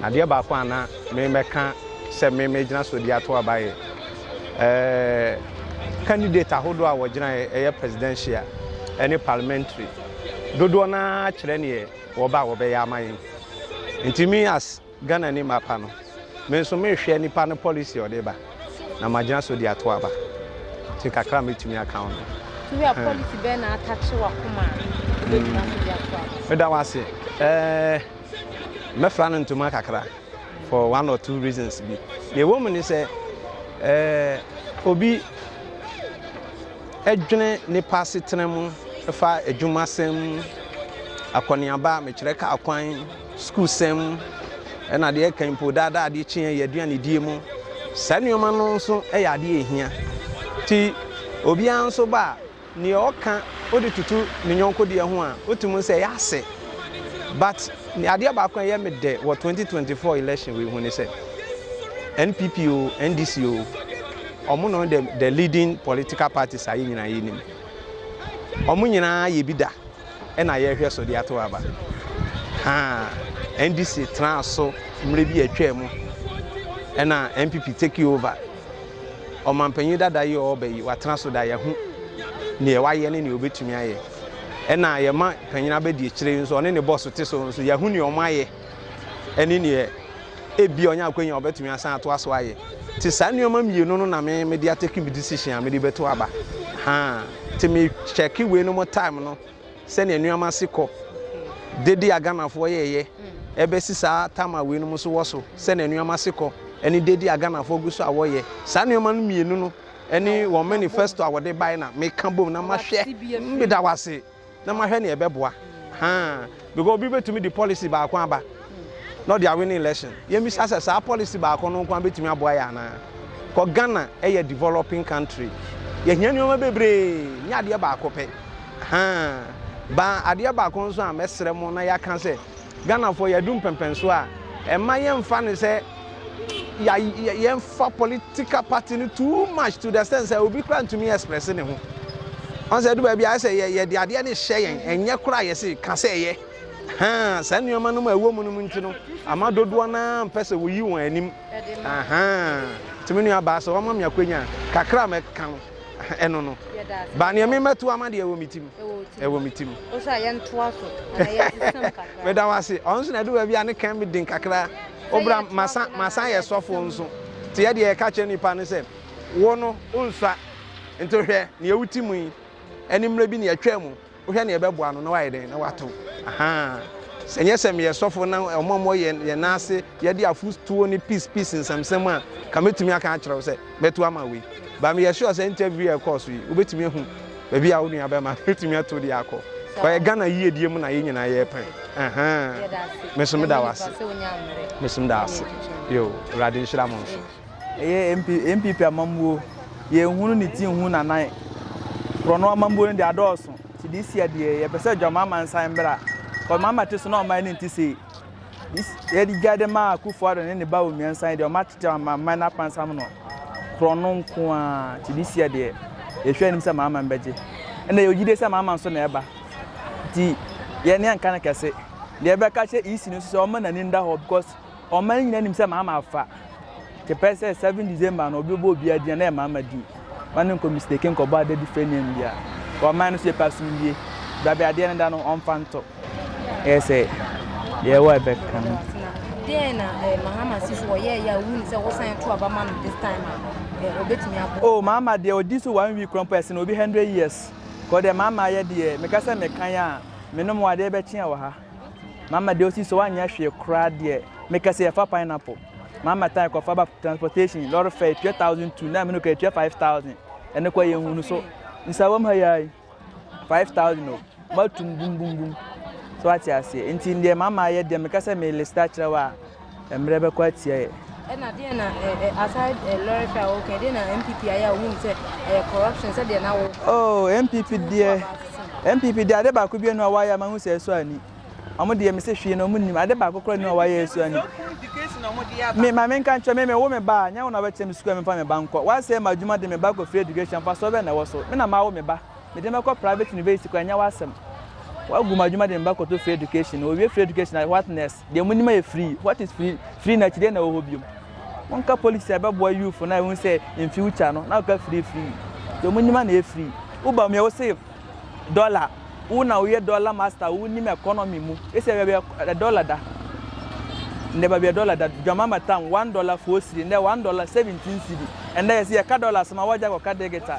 Na adeɛ baako a na memɛka sɛ memɛgyina so de ato aba yɛ ɛɛ candidate ahodoɔ a wɔgyinaeɛ ɛyɛ presidential ɛne parliamentary dodoɔ no ara kyerɛ neɛ wɔba a wɔbɛyɛ ama yɛn nti me as Ghana ni mapa no me nso mehwɛ nipa no policy a ɔde ba na magyina so de ato aba nti kakra a mɛtumi aka wo no. To wia policy bɛn na atakye wakoma a wobɛgyina so de ato aba? Meda wo ase. Eh, mɛfra no ntoma kakra for one or two reasons bi. Deɛ ɛwɔ mu ne sɛ eh, obi adwene nipa asetena mu fa adwumasɛm akɔneaba mekyerɛ kaa kwan sukuusɛm mu, ɛna deɛ ɛka mpo daa daa adeɛ kyeɛ yɛ aduane die mu. Saa nneɛma no nso yɛ adeɛ ɛhia. Ti obiara nso ba a, neɛ ɔka ɔde tutu ne nyɔnko deɛ ho a, ɔtumi nsɛ ɛyɛ asɛ. But adeɛ baako a ɛyɛ me dɛ wɔ 2024 election wei ho ne sɛ, NPP o, NDC o, ɔmo no the, the leading political parties a yɛ nyinaa yɛ nim. Ɔmo nyinaa yɛ bi da. na yɛrehwɛ so de atow aba. Haa NDC traa so mmerɛ bi a atwaa mu ɛna NPP take over. Ɔmanpanyin dada yi a ɔreba yi watena so da yɛho neɛ wayɛ ne neɛ ɔbɛtumi ayɛ. Ɛna yɛma panyin abɛdi akyire yi nso ɔne ne bɔs te so nso yɛahu neɛ ɔmayɛ. ne nea ebia ɔnya akwanya a ɔbɛtumi asan atoa so ayɛ. Te saa nneɛma mmienu no na me mede atake me decision a mede bɛto aba. Ha, te me kyɛke wei no mo time no sɛnea nneɛma si kɔ. Dede a Ghanafoɔ yɛɛyɛ ɛbɛsi saa time a wei no mo so wɔ so sɛnea nneɛma si kɔ ɛne dede a Ghanafoɔ gu so a wɔyɛ. Saa nneɛma no mmienu no ɛne wɔn manifesto a wɔde bae na meka bom na mahwɛ. Meda wo ase. na mahwɛ nea ɛbɛboa haa because obi betumi de policy baako aba na ɔde awin election yɛmmisa sɛ saa policy baako no nkoa betumi aboa yɛ anaa kɔ ghana ɛyɛ developing country yɛhia nneɛma bebree nyɛ adeɛ baako pɛ haa ba adeɛ baako nso a mɛsrɛ mo na yɛaka sɛ ghanafoɔ yɛadu mpɛmpɛnso a ɛma yɛmfa ne sɛ yɛmfa political party no too much to the extent sɛ obi kora ntumi express ne ho ɔn sɛ ɛdu baabi ayɛ sɛ yɛde adeɛ ne hyɛ yɛn ɛnyɛ kora yɛ se ka sɛ ɛyɛ ha saa nneɛma no ma ɛwɔ mu no mu nti no ama dodoɔ no ara mpɛ sɛ wɔyi wɔn anim tumi nua baa sɛ wɔma me akwanya kakra ma ɛka no ɛno no baa nea memɛto ama deɛ ɛwɔ me tim ɛwɔ me tim meda wo ase ɔno so na ɛdu baabi a ne kan me den kakra O bra, masan, masan yɛ sɔfoɔ nso. Nti yɛ deɛ yɛka kyerɛ nnipa ne sɛ, Wo no, wonsua. Nti hwɛ, deɛ wote mu yi, ɛne mmerɛ bi na yɛtwaa mu. Wohwɛ na yɛbɛboa no na wayɛ dɛn? Na wato. Ahaa. Sɛ nyɛ sɛ meyɛ sɔfoɔ na wɔn a wɔwɔ yɛn, yɛn nan ase, yɛde afotuo ne peace, peace nsɛmnsɛm a, nka mɛtumi aka akyerɛ wo sɛ, mɛto ama wei. But meyɛ sure sɛ interview a ɛkɔɔ so yi, wobɛtumi ahu. Baabi a wo nua bɛma no wotumi ato de akɔ. Ɔyɛ Ghana yiedie mu na yɛn nyinaa yɛpɛn. Ɛhɛn. Meso meda wo ase. Meso meda ase. Yo, Awurade nhyira mo nso. Ɛyɛ MP NPP amammuo. Yɛnhunu ne ti nhu n'anan. Korɔno amammuo no deɛ adɔɔso. Nti this year deɛ yɛpɛ sɛ John Mahama nsan mmra. Cos Mahama te so na ɔman no nte sei. Yɛde gya de ma Akufo Addo ne ne ba Omiensa yi deɛ wɔn akyekye amanaman no apansam no korɔ no nko ara nti de sia deɛ yɛhwɛ anim sɛ amanaman bɛgye. Ɛna yɛwɔ gyidie sɛ amanaman so na ɛba. Nti yɛn ne yɛnka no kɛse. Deɛ ɛbɛka kyerɛ EC no nso sɛ wɔn nani nda hɔ because ɔman no nyinaa nim sɛ amanaman afa. Te pɛ sɛ seven December no obi bɔ obi adin na yɛ mama din. Ma no nkɔ mistake nkɔ bɔ ada different name bia. Wɔ man no so yɛ pɛ asomdwie. Brabe adeɛ no da no ɔmfa nto. Yɛ sɛ yɛ wɔ ɛbɛ ka no. Deɛ na eh, Mahama si so ɔyɛ yɛ a wuni sɛ wosan to aba ma no this time a eh, obetumi abɔ. Oh Mahama deɛ odi so one week korɔ mpo ɛsen obi hundred years. Kɔ deɛ Mahama ayɛ deɛ meka sɛ mekan a menom wɔ adeɛ bɛkye a wɔ ha. Mama deɛ osi so anyɛ hwee koraa deɛ mekɛse yɛfa pineapple mama tan kɔfa ba transportation lorry fare etua thousand two na mene kɔ etua five thousand ɛne kɔ yɛn hunu so nsawam ha yɛ ayi five thousand o matum bum bum bum so ate aseɛ nti deɛ mama ayɛ deɛ mekɛse me lista kyerɛ wa Mmerɛ bɛkɔ atia yɛ. Ɛna deɛ na eh, eh, aside eh, lorry fare wo kan deɛ na MPP ayɛ a wohun sɛ ɛyɛ corruption sɛ deɛ na wo. Oh MPP deɛ MPP deɛ ade baako bi no a wayɛ ama hu sɛ ɛso ani. Ɔmo deɛ mese hwee na ɔmo nim ade baako kora no a wayɛ ɛso ani. Me ma me nka nkyerɛ me me wo me ba a nyɛ wo na ɔbɛkyerɛ me sukuu a memfa me ba nkɔ. Wasɛ ma adwuma de me ba kɔ free education fa so ɔbɛ na ɛwɔ so. Me na ma wo me ba. Me de mɛkɔ private university kɔ ɛnyɛ wasɛm. Wagu ma adwuma de me ba kɔto free education. Owie free education what next? Deɛ monim yɛ free. What is free? Free no akyi deɛ na ɛwɔ hɔ biom? Monka policies a ɛbɛboa youth no a ɛhu sɛ in future no na woka free free. Deɛ monim a na ɛyɛ free. Woba mu yɛ wo se dollar. Wo na woyɛ dollar master, wonim economy mu. Ɛsɛ baabi a dollar da. Ndɛ baabi a dollar da, dwamama tam one dollar four cedi, ndɛ one dollar seventeen cedi. Ɛndɛ yɛse yɛka dollar asɛm a woagya akɔka digital.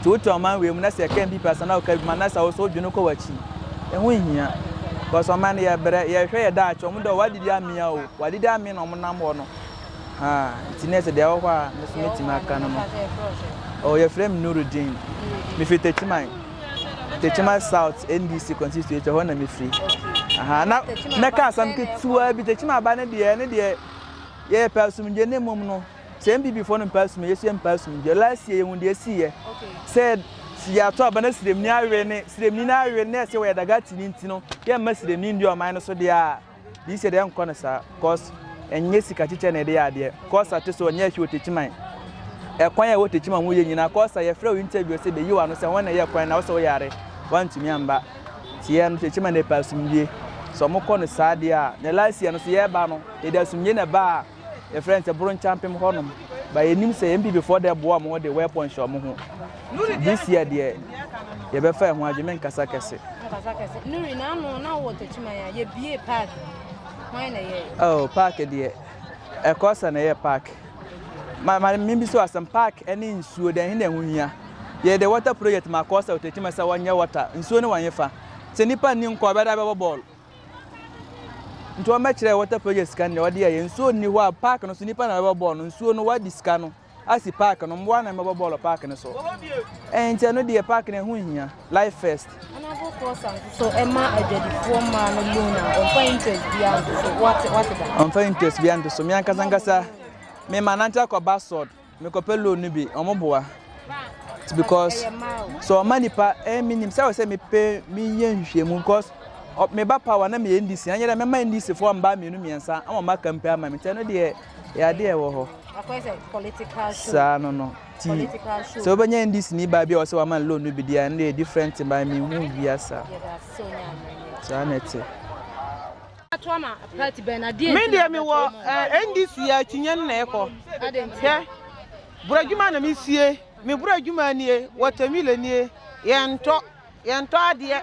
Nti wotu ɔman wei mu na sɛ ɛka NPP asa na ɔka adwuma na sɛ wo so wodwene kɔ w'akyi. Ɛho nhia. Cos ɔman no yɛbrɛ, yɛhwɛ yɛ daakye. Ɔmo dɛ wadidi amea o, wadidi amee na ɔmo nam hɔ no. Haa, nti na ɛsɛ deɛ ɛwɔ hɔ a me so mɛtumi aka no no. Oh, yɛfrɛ me Nurudeen. Mefiri Techiman. Techiman South NDC constituency ɛhɔ na mefiri. Aha, na mɛka asɛm ketewa bi. Techiman aba ne deɛ, ne deɛ yɛpɛ asomdwe ne mmom no. Sɛ NBB foɔ no mpaa sum a yɛso yɛ mpaa sum deɛ last year yɛhu deɛ ɛsiiɛ sɛ yɛato aba na sremni awe ne sremni no awe no na ɛsɛ wɔyɛ dagati no nti no yɛmma sremni ndi ɔman no so deɛ a this year deɛ ɛnkɔ no saa cause ɛnyɛ sika kyekyɛ na ɛde yɛ adeɛ cause ate so ɔnyɛ ɛhwɛ ɔtakyiman ɛkwan a ɛwɔ takyiman ho yɛ nyinaa cause a yɛfrɛ wo interview sɛ bɛyi wɔ ano sɛ wɔn na ɛyɛ kwan na wo sɛ wo yare wantumi amba nti yɛ no takyiman na ɛpɛ asomdwie sɛ ɔmokɔ no saa deɛ a na last year no so yɛba no yɛde asomdwie na ɛbaa yɛfrɛ no sɛ Boronkyampem hɔnom ba yɛnim sɛ NPP foɔ dɛ boa ɔmo de weapon hyɛ ɔmo ho this year deɛ yɛbɛfa ɛho adwe menkasa kɛse oh park deɛ ɛkɔ sɛ na ɛyɛ park ma ma mimbi so asɛm park ɛne nsuo dɛn hin na ɛho hia yɛde water project ma kɔ sɛ ɔtɛkyima sɛ wɔnyɛ water nsuo ne wɔnyɛ fa sɛ nipa nni nkɔ ɔbɛda bɛbɔ bɔɔl Nti wɔbɛkyerɛ water project sika no deɛ wɔde yɛyɛ nsuo nni hɔ a park no so nipa na wɔbɛbɔ bɔɔl no nsuo no wɔadi sika no asi park no mmoa na wɔbɛbɔ bɔɔl park no so ɛnti ɛno deɛ park no ɛho hia life first. Honourable Fosa nso ɛma adwadifoɔ mmaa no loan a ɔmfa interest bi anto so wɔte wɔte da. ɔmfa interest bi anto so mi ankasa ankasa mi ma nante akɔ basord Me kɔ pɛ loan no bi ɔmo boa because so ɔma nipa ɛɛ eh, mi nim sɛ ɔsɛ mi pɛ mi yɛ nhwehwɛ mu because me ba power na me yɛ ndc anyɛ dɛ mɛma ndc fo ɔmo ba mienu miɛnsa ama ɔmo aka mpɛ ama mi tɛ no deɛ yɛ adeɛ ɛwɔ hɔ saa no no ti sɛ wobɛnya ndc ni baa bi a ɔsɛ wama loan no bi deɛ ɛno deɛ different baa mi hu wia saa saa na ɛte. Me deɛ me wɔ eh, NDC a akyinnye no na ɛkɔ. Hwɛ, borɔdwuma na mesie. Me borɔdwuma nie, wɔtamilo nie, yɛntɔ, yɛntɔ adeɛ.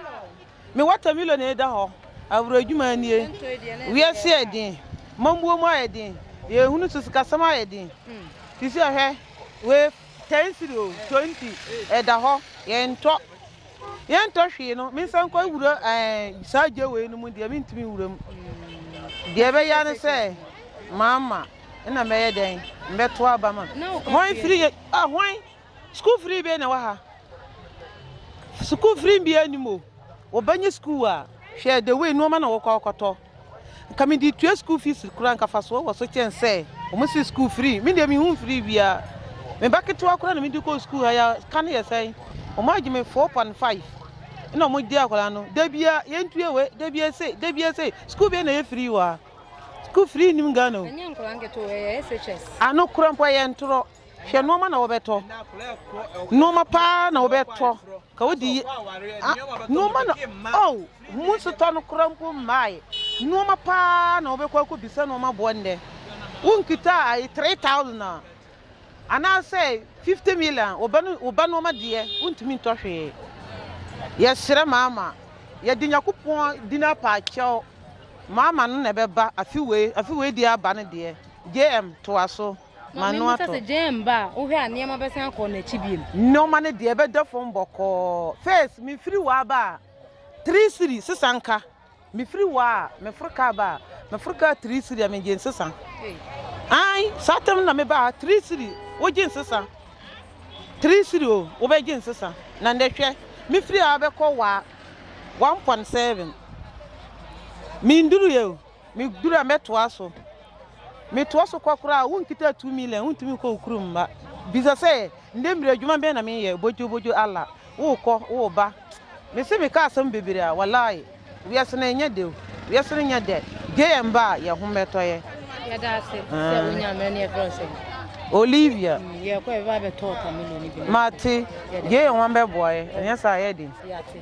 Me wɔtamilo na ɛda hɔ, aborɔdwuma nie. Wiase yɛ den, mammuo mu ayɛ den, yɛhunu so sikasɛm ayɛ den. Te sɛ hwɛ, wei 10 siri o, 20, ɛda hɔ, yɛntɔ, yɛntɔ hwee no mensa nkɔ wura saa gya wei no mu deɛ mentumi nwura mu deɛ ɛbɛya ne sɛ maama na mɛyɛ dɛn mbɛto aba ma hwan firi yɛ ah hwan sukuu firi bɛ na wɔ ha sukuu firi bi anim o wɔbɛnyɛ sukuu a hwɛ the way nneɛma na wɔkɔ akɔtɔ Nka me de tua school fees koraa nka fasoɔ wɔ so kyɛn sɛ wɔn si school free me deɛ me hu free biara me ba ketewa koraa na me de kɔ school ha ya ka no yɛ sɛn wɔn agye me four point five ɛna wɔn gye akwadaa no da bia yɛn tuye we da bia se da bia se school bia na yɛ free wɔ ha school free nim Ghana o ɛnyɛ nkwadaa nketewa ɛyɛ SHS ano kura mpo ɛyɛ ntorɔ hwɛ nneɛma na wɔbɛtɔ nneɛma paa na wɔbɛtɔ. Ka wo de yi a nnoɔma na oh Mo nso tɔ no koraa mpo mmaeɛ Nnoɔma paa na wobɛkɔ akɔ bisa nnoɔma boɔ nnɛ Wo nkita a ayi three thousand a Anaa sɛ fifty million wo ba no wo ba nnoɔma deɛ wontumi ntɔ hwee Yɛsrɛ mama yɛde Nyakopɔn din apa akyɛw Mama no na ɛbɛba afe wei afe wei deɛ aba no deɛ JM toa so. Ma no atɔ. Sɛ gyɛn ba a, wohwɛ a nneɛma bɛsan akɔ n'akyi bio. Nneɛma no deɛ ɛbɛda fam bɔkɔɔ. First, mefiri hɔ aba a, three cedi sesa nka. Mefiri hɔ a, meforo ka aba a, meforo ka three cedi a megye nsesa. Ae, saa tam na meba ha, three cedi, wogye nsesa. Three cedi o, wobɛgye nsesa. Na ndɛ hwɛ, mefiri ha bɛkɔ waa, one point seven. Menduru yɛ o. Me duru a mɛtoa so. Metoa so kɔ koraa a, wonkita two million, wontumi nkɔ wo kurom mma. Bisa sɛ, ndɛ mbrɛ adwuma bɛn na menyɛ? Bodwo bodwo Allah, wookɔ, wooba. Mese meka asɛm bebree a, walayi, wiase no nnyɛ dɛ o, wiase no nnyɛ dɛ. Gye yɛn ba a, yɛn ho bɛtɔ yɛn. Yɛda ase sɛ wonya mmerɛ ne yɛfrɛ wo sɛn? Olivia. Mm, yɛkɔ yɛbɛba abɛtɔ watermelon no bi. Mate, gye yɛn ho bɛboa yɛn, ɛnyɛ saa a ɛyɛ den. Yɛate.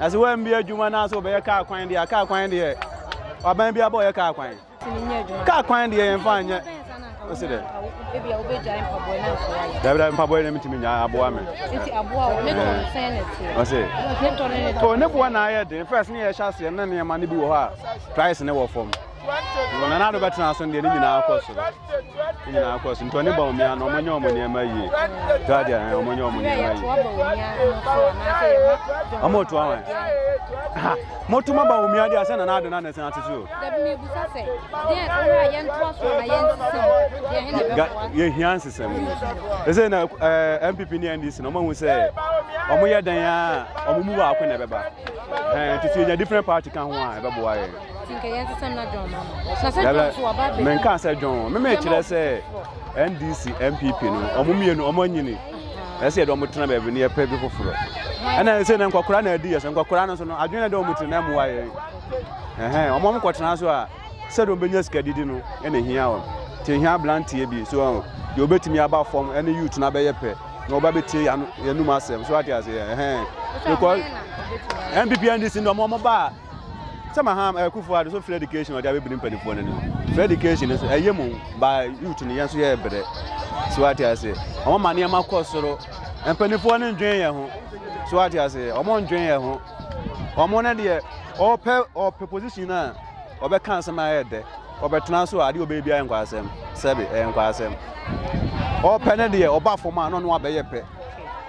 Na sɛ woambi adwuma anaasɛ wobɛyɛ kaa kwan deɛ a, kaa kwan deɛ waban bi abɔ yɛ kaa kwan. Kaa kwan deɛ yɛmfa nyɛ. Ɔsi dɛ. Dabida mpaboa na metumi nya aboa me. Ɔsi. O ne boa na ayɛ den. First ne yɛhyɛ aseɛ na nneɛma no bi wɔ hɔ a price ne wɔ fam. Na na do bɛtena so deɛ ne nyinaa kɔ so. nyinaa kɔ so nti ɔne ba omia no ɔmonyɛ ɔmo nneɛma yie twadeɛ ɛn ɔmonyɛ ɔmo nneɛma yie ɔmo to awon ha moto ma ba omia deɛ asɛ nana adena ne sena ase so yɛhia nsesɛm ɛsɛ na ɛɛ mpp ne ndc na ɔmo ahu sɛ ɔmo yɛ dɛn a ɔmo mu baako na ɛbɛba ɛɛ nti so yɛnya different party ka ho a ɛbɛboa yɛn menka sɛ dwon meme kyerɛ sɛ ndc mpp no ɔmo mmienu ɔmo anyini ɛsɛ yɛde ɔmo tena baabi no yɛpɛ bi foforɔ ɛna ɛsɛ na nkɔkora na adi yɛ sɛ nkɔkora no so no adwene de ɔmo tiri na ɛmoa yɛn ɛhɛn ɔmo ɔmo kɔtena so a sɛde ɔmo bɛnya sika didi no ɛna hia wɔn te hia ablanteɛ bi so ɔmo deɛ ɔbɛtumi aba fam ɛne youth no abɛyɛ pɛ na ɔba bɛtie yɛn anum asɛm so ate aseɛ ɛhɛn because mpp ndc no ɔmo ɔmo ba a sɛ maham eh, kufu ado so free education ɔde abɛbiri mpanimfoɔ no no free education no so ɛyɛ mu ba youth no yɛn nso yɛ brɛ so wate ase ɔmo ma nneɛma kɔ soro mpanimfoɔ no ndwen yɛ ho so wate ase ɔmo ndwen yɛ ho ɔmo no deɛ ɔpɛ ɔpɛ position no a ɔbɛka nsɛm a ɛyɛ dɛ ɔbɛtena so a adeɛ ɔbɛyɛ biara nkɔ asɛm sɛbe ɛyɛ nkɔ asɛm ɔpɛ no deɛ ɔba fam a na ɔno abɛyɛ pɛ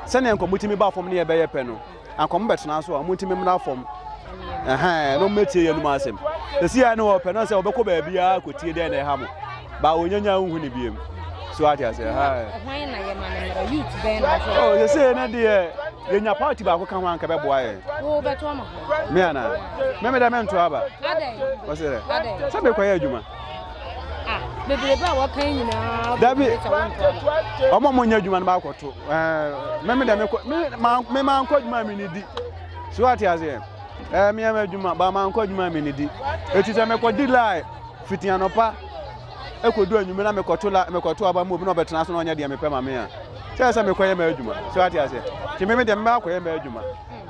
sɛnea nkɔmmɔtumi ba fam ne yɛbɛyɛ pɛ no anka ɔmo bɛtena so a ɔmo nti memmra fam na ɔmo bɛtie yɛn num asɛm ɛsi a ne wɔpɛ no sɛ wɔbɛkɔ baabiaa kɔtie dɛn na ɛha mo baa wɔnyanya wohu ne biam so ate ase sɛsei no deɛ yɛnya party baako ka ho anka bɛboa yɛ me anaa mɛmedɛ mento aba sɛ mekɔyɛ adwuma Ah, bebrebe a wɔka yi nyinaa. Dabi, wɔn a wɔnyɛ adwuma no baakɔto. Ɛɛ, me me dɛ me kɔ me ma me ma nkɔ adwuma mi ni di. So ate aseɛ. Ɛɛ, me ama adwuma ba ma nkɔ adwuma mi ni di. Eti sɛ mekɔ di line fiti anɔpa ekodu anwummerɛ na mekɔto la mekɔto aba mu obi na ɔbɛtena so na ɔnyɛ deɛ mepɛ ma me a. Sɛ sɛ mekɔyɛ ma adwuma. So ate aseɛ. Ti me me dɛ me baakɔyɛ ma adwuma.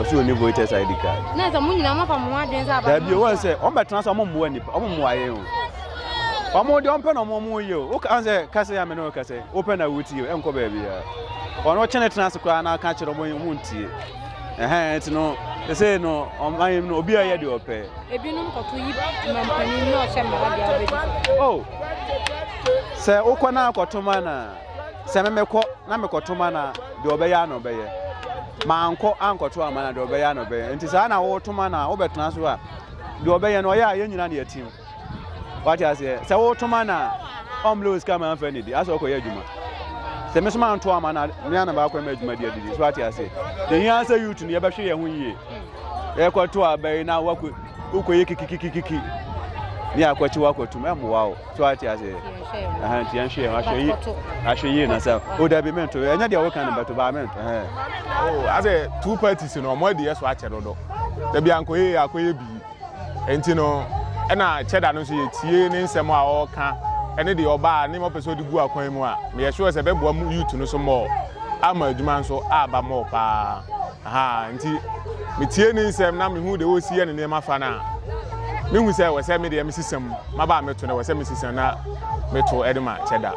ɔsi oni voters id card. na sɛ mo nyinaa mofa mo ho adwene sɛ aba dabi wɔn sɛ wɔn bɛtena so wɔn mmoa nipa wɔn mmoa yɛ o wɔn de wɔn pɛ na wɔn wɔn yɛ o woka sɛ kasa yɛ amena wɔka sɛ wopɛ na wotie o ɛnkɔ baabi ya wɔn wɔkyɛ ne tena ase koraa na aka kyerɛ wɔn wɔn ntie ɛhɛn ti no ɛsɛ no ɔman yɛm no obi a yɛ de ɔpɛ. ebinom kɔto yi mampanin na ɔhyɛ mmara de abɛdi. o oh, sɛ wokɔ na akɔto ma na. sɛ memekɔ na mekɔto ma na deɛ ɔbɛyɛ a na ɔbɛyɛ mankɔ ankɔto ama na deɛ ɔbɛyɛ a na ɔbɛyɛ nti saa na wɔto ma na wobɛtena so a deɛ ɔbɛyɛ no ɔyɛ a yɛn nyina ne yɛtim wate aseɛ sɛ woto ma na ɔmlɛ wɔ sika ma mfa ne di asɛ ɔkɔyɛ adwuma sɛ me so manto ama na me ana baakɔ ma adwuma di adidi so wate aseɛ ɛhia sɛ youth no yɛbɛhwɛ yɛn ho yie yɛkɔto abɛyi na wokɔyɛ kikikikikiki ne akɔkye wakɔtum ɛmmoa wo so ate aseɛ nti yɛnhwɛ yɛ ahwɛ yie ahwɛ yie na sɛ o dabi mento ɛnyɛ deɛ woka no bɛto baa mento asɛ two parties no ɔmo adiyɛ so akyɛ dodo dabi ankɔyɛ yɛ akɔyɛ bii nti no ɛna kyɛda no nso yɛtie ne nsɛm a ɔreka ɛne deɛ ɔbaa ne ma ɔpɛ sɛ ɔde gu akwan mu a meyɛ sure sɛ ɛbɛboa mu youth no so mmɔɔ ama adwuma nso aba mmɔɔ paa aha nti metie ne nsɛm na mehu deɛ ɔresi yɛ ne nneɛma fa no a mehu sɛ wɔ sɛ me deɛ mesesam Maba a meto no wɔ sɛ mesisi na meto de ma kyɛda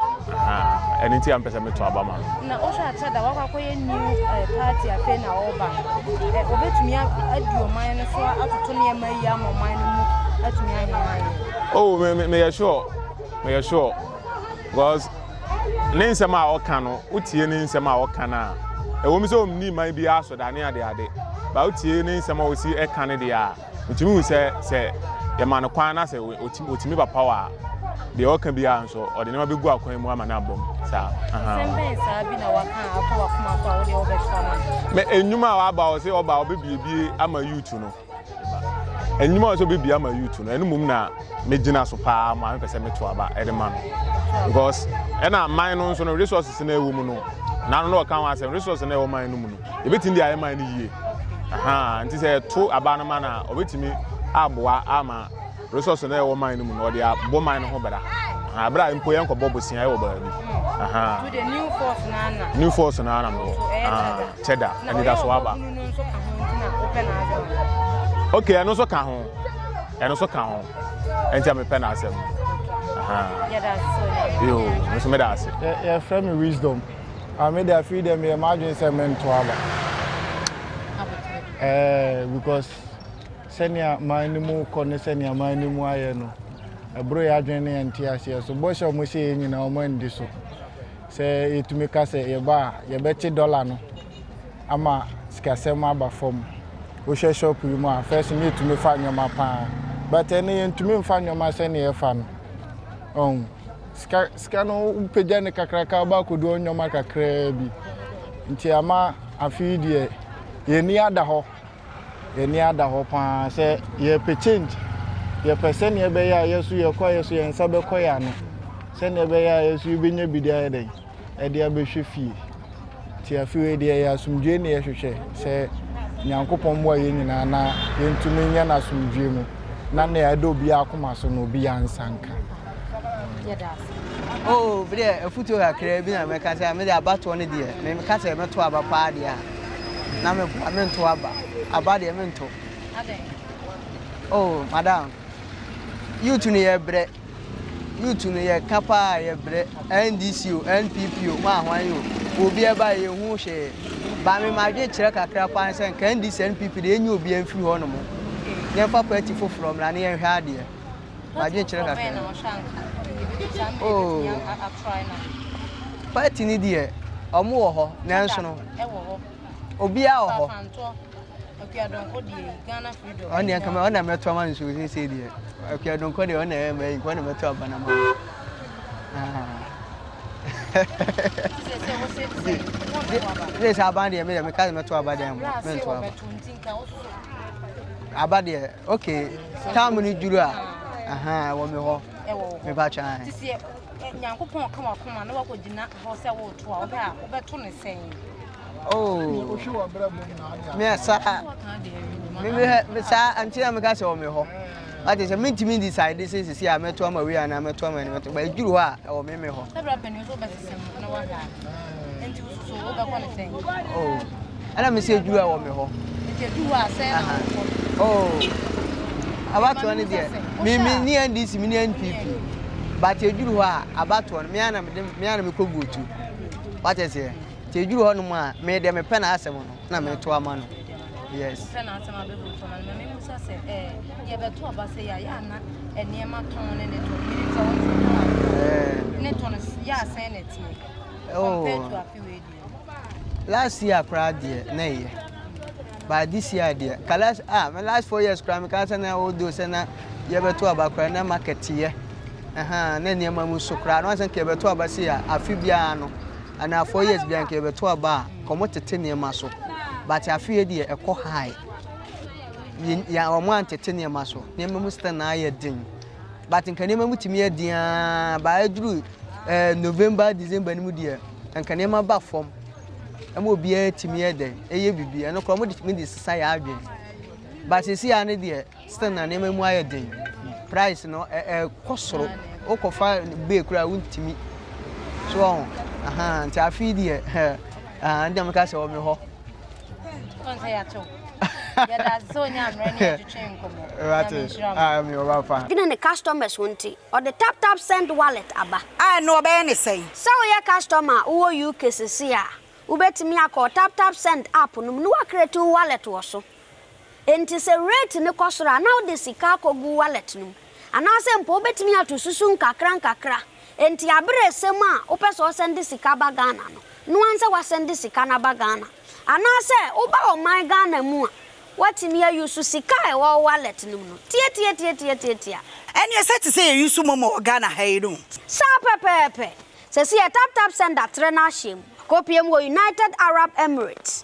ɛno nti a mpɛ sɛ meto aba ma no. na wohwɛ a kyɛda wakɔ akɔyɛ new eh, party afei na ɔreba eh, obetumi adi ɔman no so atoto nneɛma yi ama ɔman no mu atumi ayɛ ayɛ. oh me me meyɛ sure meyɛ sure because ne nsɛm a ɔka no wotie ne nsɛm a ɔka no a ɛwɔ mu sɛ ɔmni man bi asɔdane ade ade ba wotie ne nsɛm a ɔsi ɛka no deɛ a Mitumi hu sɛ sɛ yɛma no kwan na sɛ otumi ba paw a, deɛ ɔka biara nso, ɔde nneɛma bɛgu akwan mu ama no abom. Saa. Asɛm bɛn saa bi na waka akɔ w'akoma so a wodeɛ wobɛtoa ma no? Mɛ nnwuma a waba ɔ sɛ ɔba ɔbɛbiebie ama yuutu no. Nnwuma ɔ sɛ ɔbɛbie ama yuutu no, ɛno mmom na megyina so paa ma mepɛ sɛ meto aba de ma no. Because ɛna man no nso no resources na ɛwɔ mu no, n'ano na ɔka ho asɛm, resources na ɛwɔ man no mu no. yɛbɛtumi de ayɛ man no yie ahaa nti sɛ yɛto aba no man a ɔbɛtumi aboa ama resource no ɛwɔ man no mu no ɔde abɔ man no ho bra ahaa bra mpo yɛn kɔbɔ bosia ɛwɔ baabi ahaa new force no ara na mewɔ ahaa kyɛda anidaso aba ok ɛno nso ka ho ɛno nso ka ho ɛnti a mepɛ n'asɛm ahaa yoo nso meda ase yɛfrɛ me wisdom Ah me de afei dɛ meyɛ m'adwene sɛ mento aba. Ɛɛ because sɛnea man no mu kɔ ne sɛnea man no mu ayɛ no ɛboro yɛ adwene ne yɛn te aseɛ so bɔhyɛ a wɔhyɛ yɛn nyinaa wɔn andi so sɛ yɛtumi ka sɛ yɛba a yɛbɛte dɔla no ama sikasɛm aba fam wohwɛ shop yi mu a first no yɛtumi fa nneɛma paa but ɛno yɛntumi mfa nneɛma sɛnea yɛfa no ɔn sika sika no wopagya ne kakraka aba akɔdu ɔnwɔma kakraa bi nti ama afei deɛ yɛni ada hɔ yɛni ada hɔ paa sɛ yɛpɛ change yɛpɛ sɛnea ɛbɛyɛ a yɛso yɛkɔ a yɛso yɛn nsa bɛkɔ yɛ ano sɛnea ɛbɛyɛ a yɛso yɛbɛnya bi de ayɛ dɛn de abɛhwɛ fie. Nti afe wei deɛ yɛ asomdwoe ne yɛhwehwɛ sɛ Nyankopɔn mmoa yɛn nyinaa na yɛntumi nyɛ no asomdwoe mu na nea ɛda obiara akoma so no obiara nsa nka. Yɛda ase. Oh, deɛ afutuo kakraa bi na mɛka sɛ mede abatoɔ no deɛ meka sɛ mɛto aba paa deɛ a na meboa mento aba aba deɛ mento oh madam youth no yɛbrɛ Youth no yɛ ka paa a yɛ brɛ NDC o NPP o mo ahwan o obi ɛba a yɛ hu hwee ba me madwen kyerɛ kakra paa ne sɛ nka NDC ne NPP deɛ yɛ nyɛ obi a mfiri hɔ nom yɛ mfa party foforɔ mmra ne yɛ nhwɛ adeɛ madwen kyerɛ kakra oh party ni deɛ ɔmo wɔ hɔ nanso no obiara wɔ hɔ. ɔne ɛka ma ɔna mɛto ama no so sesei deɛ akua donkɔ deɛ ɔna ɛma yi nkɔ na mɛto aba no ma sɛ sɛ aba deɛ medeɛ meka sɛ mɛto aba deɛ mo mento aba aba deɛ ok tam no duru a aha ɛwɔ me hɔ mepa twa nyankopɔn ka wakoma na wakɔgyina hɔ sɛ woto a wobɛto ne sɛn Oh. Me sa me me sa anti na me ka se o me ho. Ate sɛ mentumi decide sɛ sisi a mɛto ama wei anaa mɛto ama ɛnimɛto ba ɛduru hɔ a ɛwɔ me me hɔ ɛna me sɛ ɛduru a ɛwɔ me hɔ abatoɔ no deɛ meme ne ndc me ne npp but ɛduru hɔ a abatoɔ no meana mekɔ votu watɛ seɛ Nti eduru hɔ nom a me deɛ mepɛ n'asɛm no na meto ama no. Yes. Pɛ n'asɛm abɛbɔ nto ama no. Mɛmɛ mu sa sɛ ɛɛ yɛbɛto aba sɛ yɛ yɛ ana nneɛma tɔn ne ne tɔn. Menim sɛ wɔn sɛ tɔn aba. Ne tɔn yɛ asɛn na ɛteɛ. Compared to afe wei deɛ. Last year koraa deɛ na ɛyɛ. But this year deɛ ka last ah my last four years koraa meka sɛ na odo sɛ na yɛbɛto aba koraa na market yɛ. Ɛhɛn na nneɛma mu so koraa na wɔn sɛ nka yɛbɛto aba se a afe biara no. anaa four years bia nka yɛbɛto aba a kɔmo tete nneɛma so but afei deɛ ɛkɔ high yɛ wɔn antete nneɛma so nneɛma mu sita na ayɛ den but nka nneɛma mu tumi yɛ den aa baa aduru ɛɛ eh, november december no mu deɛ nka nneɛma ba fam ɛma obiara tumi yɛ dɛ ɛyɛ bibi ɛno koraa wɔn de tumi de sisa yɛ adwene but sisi a ne deɛ Still na nneɛma mu ayɛ den. Price no ɛkɔ soro. Wokɔfa bee koraa wontumi. So ɔho. Aha nti afei deɛ ɛɛ ɛdɛm ka sɛ wɔ me hɔ. Ɔnsɛ yɛato. Yɛda so nya mmerɛ ne yɛtwetwe nkɔmmɔ. Rate. Ah, me ɔba fa. Dwene ne customers ho nti, ɔde tap tap send wallet aba. A ɛno ɔbɛyɛ ne sɛn? Sɛ woyɛ customer a wowɔ UK sesei a, wobɛtumi akɔ tap tap send app no mu na woacreate wo wallet wɔ so. Enti sɛ rate no kɔ soro a, na wode sika akɔgu wallet no mu. Anaasɛ mpo wobɛtumi ato susu nkakrankakra. Enti aberɛ resɛm a wopɛ sɛ ɔsɛnde sika ba Ghana no, noa nsɛ wasɛnde sika no aba Ghana. Anaasɛ woba ɔman Ghana mu a, woatumi a use sika a ɛwɔ wo wallet no mu no. Tiatiatiatiatiatia. Ɛneɛ sɛ te sɛ yɛ use momo wɔ Ghana ha yi no. Saa pɛpɛɛpɛ. Sɛsi yɛ taptapsend atrɛ no ahyɛm. Akɔpie mu wɔ United Arab Emirates.